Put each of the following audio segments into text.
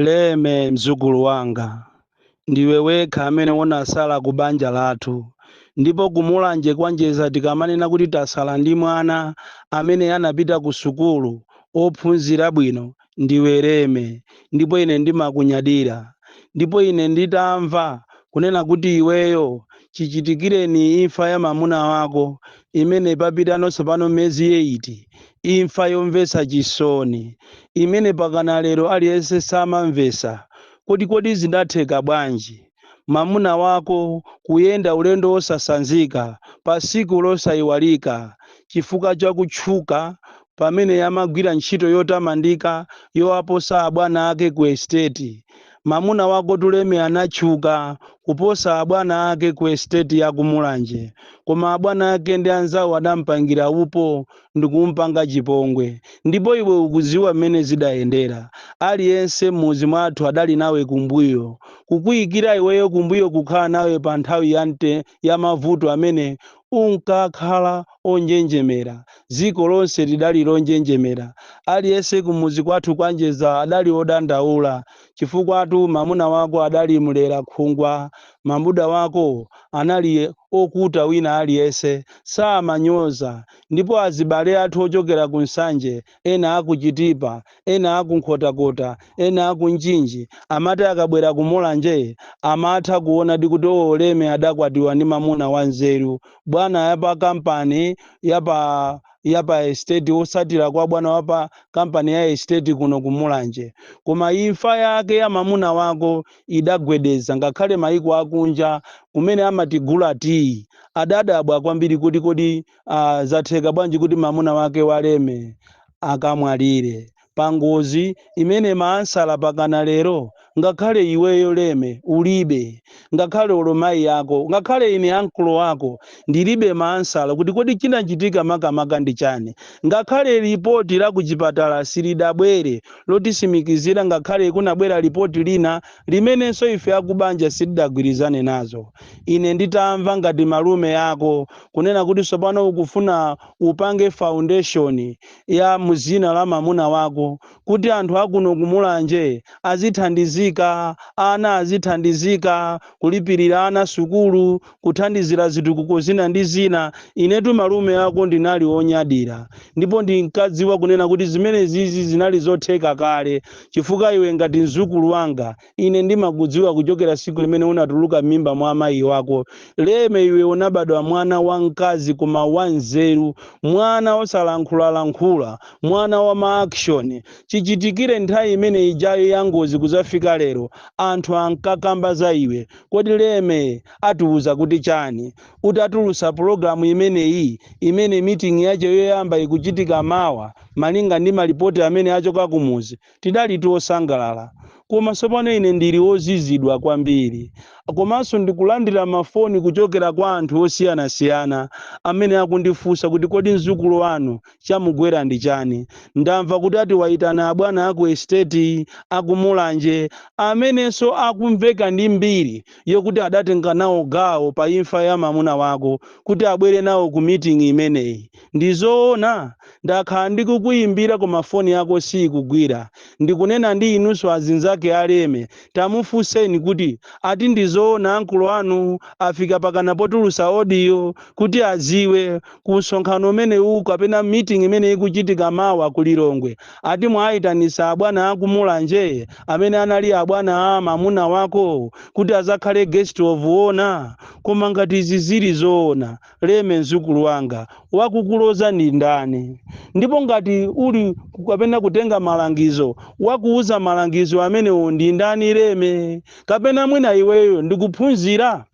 Leme mzukulu wanga ndiwe wekha amene unasala ku banja lathu ndipo ku Mulanje kwa Njeza tikamanena kuti tasala ndi mwana amene anapita ku sukulu ophunzira bwino ndiwe Leme ndipo ine ndimakunyadira ndipo ine nditamva kunena kuti iweyo chichitikireni imfa ya mamuna wako imene papitano tsopano miyezi yeiti imfa yomvetsa chisoni imene pakana lero aliyense samamvetsa kuti kodi zinatheka bwanji mamuna wako kuyenda ulendo wosasanzika pa tsiku losaiwalika chifukwa cha kutchuka pamene amagwira ntchito yotamandika yowaposa abwana ake ku esiteti Mamuna wakotu Leme anatchuka kuposa abwana ake ku esiteti ya ku Mulanje koma abwana ake ndi anzawo adampangira upo ndikumpanga chipongwe ndipo iwe ukuziwa mmene zidayendera aliyense mmuzi mwathu adali nawe kumbuyo kukuyikira iweyo kumbuyo kukhala nawe pa nthawi ya ya mavuto amene unkakhala onjenjemera. Dziko lonse lidali lonjenjemera. Aliyense kumudzi kwathu kwa Njeza adali odandaula. Chifukwatu mamuna wako adali mlera khungwa. Mamuna wako anali okuta wina aliyense samanyoza ndipo azibale athu ochokera ku Nsanje ena a ku Chitipa, ena a ku Nkhotakota, ena a ku Mchinji, amati akabwera ku Mulanje amatha kuonadi kuti oo Leme adakwatiwa ndi mamuna wa nzeru. Bwana ya pa kampani ya pa ya pa estate wotsatira kwa bwana wa pa kampani ya estate kuno ku Mulanje. Koma imfa yake ya mamuna wako idagwedeza ngakhale maiko a kunja kumene amatigula tiyi. Adadabwa kwambiri kuti kodi ah, zatheka bwanji kuti mamuna wake wa Leme akamwalire pangozi imene maansala pakana lero ngakhale iweyo Leme ulibe ngakhale olo mayi ako ngakhale ine ankolo ako ndilibe maansala kuti kodi chinachitika makamaka ndi chani ngakhale lipoti la kuchipatala silidabwere lotisimikizira ngakhale kunabwera lipoti lina limenenso ife akubanja sitidagwirizane nazo ine nditamva ngati malume ako kunena kuti tsopano ukufuna upange foundation ya mu dzina la mamuna wako kuti anthu akuno ku Mulanje azithandizika, ana azithandizika, kulipirira ana sukulu, kuthandizira zitukuko zina ndi zina. Inetu malume ako ndinali onyadira ndipo ndinkadziwa kunena kuti zimenezizi zinali zotheka kale chifukwa iwe ngati mzukulu wanga Ine ndimakudziwa kuchokera tsiku limene unatuluka m'mimba mwa amayi wako. Leme, iwe unabadwa mwana wamkazi koma wanzeru, mwana wosalankhulalankhula, mwana wa ma action. Chichitikire nthawi imene ijayo ya ngozi kudzafika lero, anthu ankakamba za iwe. Kodi Leme atiuza kuti chani? Utatulutsa pulogalamu imeneyi, imene meeting yache yoyamba ikuchitika mawa, malinga ndi malipoti amene achokera kumudzi, Tidali osangalala, koma tsopano ine ndili wozizidwa kwambiri. Komanso ndikulandira mafoni kuchokera kwa anthu osiyanasiyana amene akundifunsa kuti kodi mzukulu wanu chamugwera ndi chani? Ndamva kuti ati wayitana abwana a ku esiteti, a ku Mulanje, amenenso akumveka ndi mbiri yokuti adatenga nawo gawo pa imfa ya mamuna wako, kuti abwere nawo ku miting'i imeneyi. Ndi zoona? Ndakhala ndikukuyimbira koma foni yako siyikugwira. Ndikunena ndi inunso azinzake a Leme. Tamufunseni kuti ati ndi zoona ankolo anu afika pakana potulutsa audio kuti adziwe ku msonkhano umenewu kapena meeting imene ikuchitika mawa ku Lilongwe ati mwayitanitsa abwana a ku Mulanje amene anali abwana a mamuna wako kuti adzakhale guest of honour? Koma ngati izi zili zoona. Leme mzukulu wanga, wakukuloza ndi ndani? Ndipo ngati uli kapena kutenga malangizo, wakuuza malangizo amenewo ndi ndani, Leme? Kapena mwina iweyo ndi kuphunzira?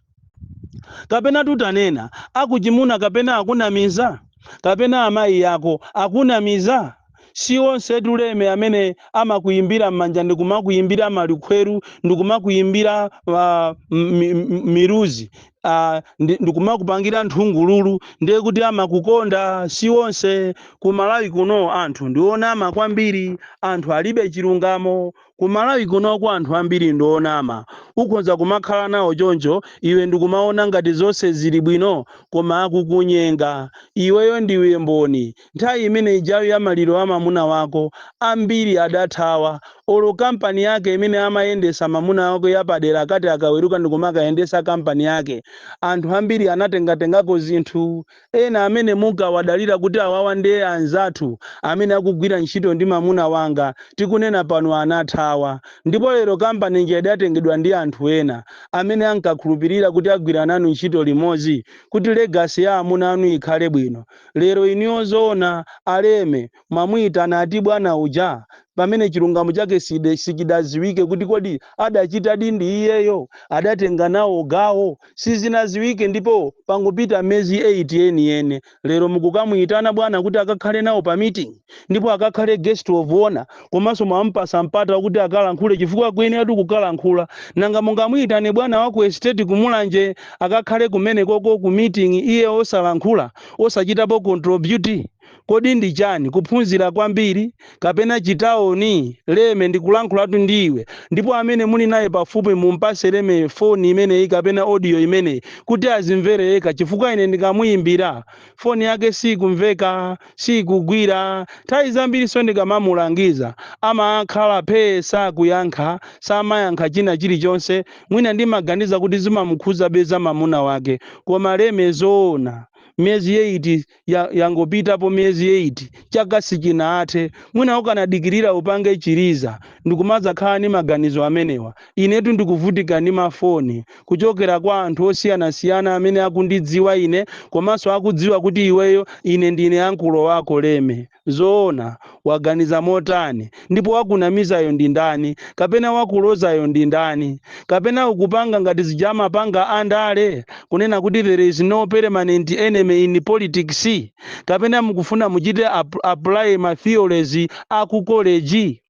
Kapena tutanena, akuchimuna kapena akunamiza? Kapena amayi ako akunamiza? Si onsetu Leme amene amakuimbira m'manja ndikumakuimbira malikhweru ndikumakuimbira ah, m- mi- m- miluzi ah, ndi- ndikumakupangira nthungululu ndiye kuti amakukonda si onse ku Malawi kuno anthu ndionama kwambiri anthu alibe chilungamo Ku Malawi kunoko anthu ambiri ndi onama. Ukhonza kumakhala nawo choncho iwe ndikumaona ngati zonse zili bwino koma akukunyenga. Iweyo ndiwe mboni. Nthawi imene ijayo ya maliro a mamuna wako, ambiri adathawa. Olo kampani yake imene amayendesa mamuna wako ya padera akati akaweruka ndikumakayendesa kampani yake, anthu ambiri anatengatengako zinthu. ena amene munkawadalira kuti awawa nde anzathu amene akugwira ntchito ndi mamuna wanga tikunena pano anathawa ndipo lero company ija idatengedwa ndi anthu ena amene ankakhulupirira kuti agwira nanu ntchito limodzi kuti legacy ya amuna anu ikhale bwino lero inuyo zoona a Leme mwamuitana ati bwana uja pamene chilungamo chake sichidaziwike kuti kodi adachitadi ndi iyeyo adatenga nawo gawo sizinaziwike ndipo pangopita miyezi 8 yeniyeni lero mukukamuitana bwana kuti akakhale nawo pa meeting ndipo akakhale guest of honor komanso mwamupasa mpata wakuti akalankhule chifukwa akuyeneratu kukalankhula nanga mungamuitane bwana wa ku estate kumulanje akakhale kumenekoko ku meeting iye osalankhula osachitapo contribute Kodi ndi chani? Kuphunzira kwambiri? Kapena chitaoni? Leme, ndikulankhulatu ndi iwe. Ndipo amene muli naye pafupi mumpase Leme foni imeneyi kapena audio imeneyi kuti azimvere yekha chifukwa ine ndikamuyimbira, foni yake siikumveka, siikugwira. Nthawi zambiriso ndikamamulangiza amakhala phee sakuyankha, samayankha china chilichonse. Mwina ndimaganiza kuti zimamukhuzabe za mamuna wake. Koma Leme zoona? Miyezi eyiti yangopitapo miyezi 8 chaka sichinathe mwina ukanadikirira upange chiliza ndikumadzakhala ndi maganizo amenewa inetu ndikuvutika ndi mafoni kuchokera kwa anthu osiyanasiyana amene akundidziwa ine komanso akudziwa kuti iweyo ine ndine ankulo wako leme Zoona, waganiza motani? Ndipo wakunamizayo ndi ndani? Kapena wakulozayo ndi ndani? Kapena ukupanga ngati zija amapanga andale, kunena kuti there is no permanent enemy in politics? Kapena mukufuna muchite apply ma theories a ku college?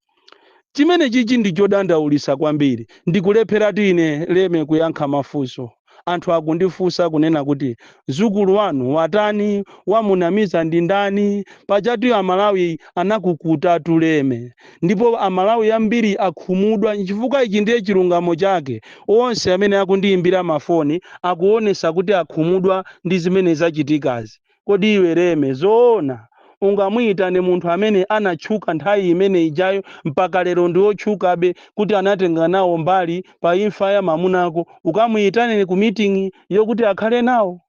Chimene chichi ndi chodandaulisa kwambiri ndikulepheratu ine leme kuyankha mafunso anthu akundifunsa kunena kuti mzukulu wanu watani wamunamiza ndi ndani pajatu amalawi anakukutatu leme ndipo amalawi ambiri akhumudwa chifukwa ichi ndiye chilungamo chake onse amene akundiyimbira mafoni akuonesa kuti akhumudwa ndi zimene zachitikazi Kodi iwe Leme zoona ungamuyitane munthu amene anatchuka nthawi imene ijayo mpaka lero ndi otchukabe kuti anatenga nawo mbali pa imfa ya mamunako ukamuyitane ku meeting yokuti akhale nawo?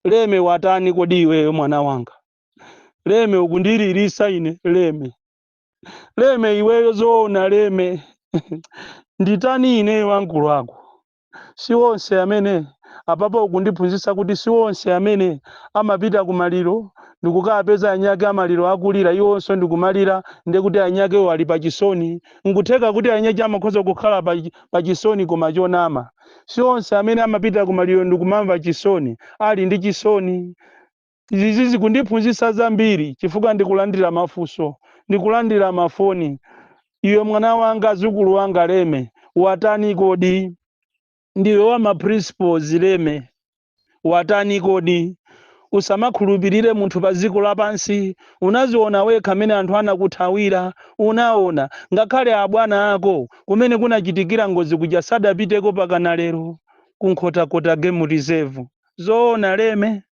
Leme watani kodi iweyo mwana wanga? Leme ukundililisa ine Leme. Leme iweyo zoona Leme? Nditani ineyo ankulo wako? Si onse amene, apapa ukundiphunzitsa kuti si onse amene amapita ku maliro ndikukapeza anyake a maliro akulira iwonso ndikumalira ndiye kuti anyakewo ali pa chisoni. Nkutheka kuti anyache amakhoza kukhala pa chisoni koma chonama. Si onse amene amapita ku maliro ndikumamva chisoni ali ndi chisoni. Izi zikundiphunzitsa zambiri chifukwa ndikulandira mafunso, ndikulandira mafoni, Iwe mwana wanga, dzukulu wanga Leme, watani kodi? Ndiwe wa ma principles Leme, watani kodi? Usamakhulupirire munthu pa dziko lapansi. Unaziona wekha mmene anthu anakuthawira. Unaona. Ngakhale abwana ako kumene kunachitikira ngozi kuja sadapiteko mpakana lero, ku Nkhotakota Game Reserve. Zoona Leme?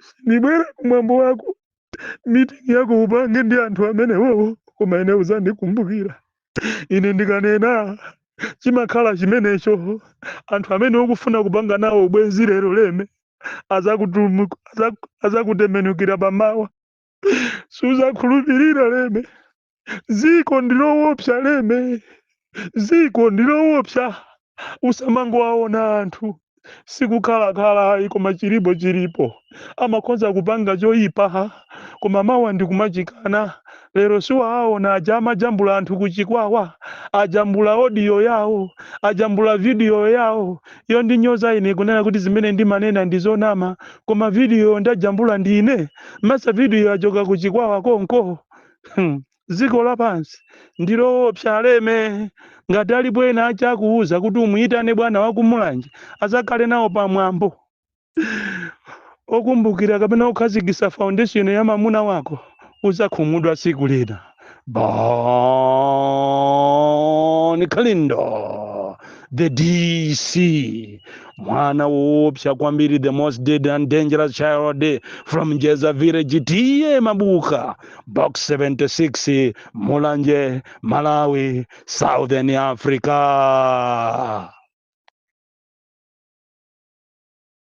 sindibwera kumwambo wako mitingi yako upange ndi anthu amenewowo koma ine uzandikumbukira ine ndikanena chimakhala chimenecho anthu amene ukufuna kupanga nawo ubwenzi lero leme azakutembenukira pamawa suzakhulupirira leme ziko ndilowopsa leme ziko ndilowopsa usamangowaona anthu sikukhalakhala ayi koma chilipo chilipo amakhoza kupanga choyipa koma mawa ndikumachikana lero siwaaona aja amajambula anthu kuchikwawa ajambula odiyo yawo ajambula vidiyo yawo iyo yondinyoza ine kunena kuti zimene ndimanena ndizonama koma vidiyo ndajambula ndine masa video yachoka ku chikwawa konko Hmm. dziko lapansi ndiloopsa aleme ngati alipo ena ake akukuuza kuti umuyitane bwana wakumulanje azakhale nawo pamwambo okumbukira kapena kukhazikisa foundation ya mamuna wako uzakhumudwa tsiku lina Bon Kalindo, the DC, mwana woopsa kwambiri, the most dead and dangerous child from Jeza village, tiye mabuka, box 76, Mulanje, Malawi, Southern Africa.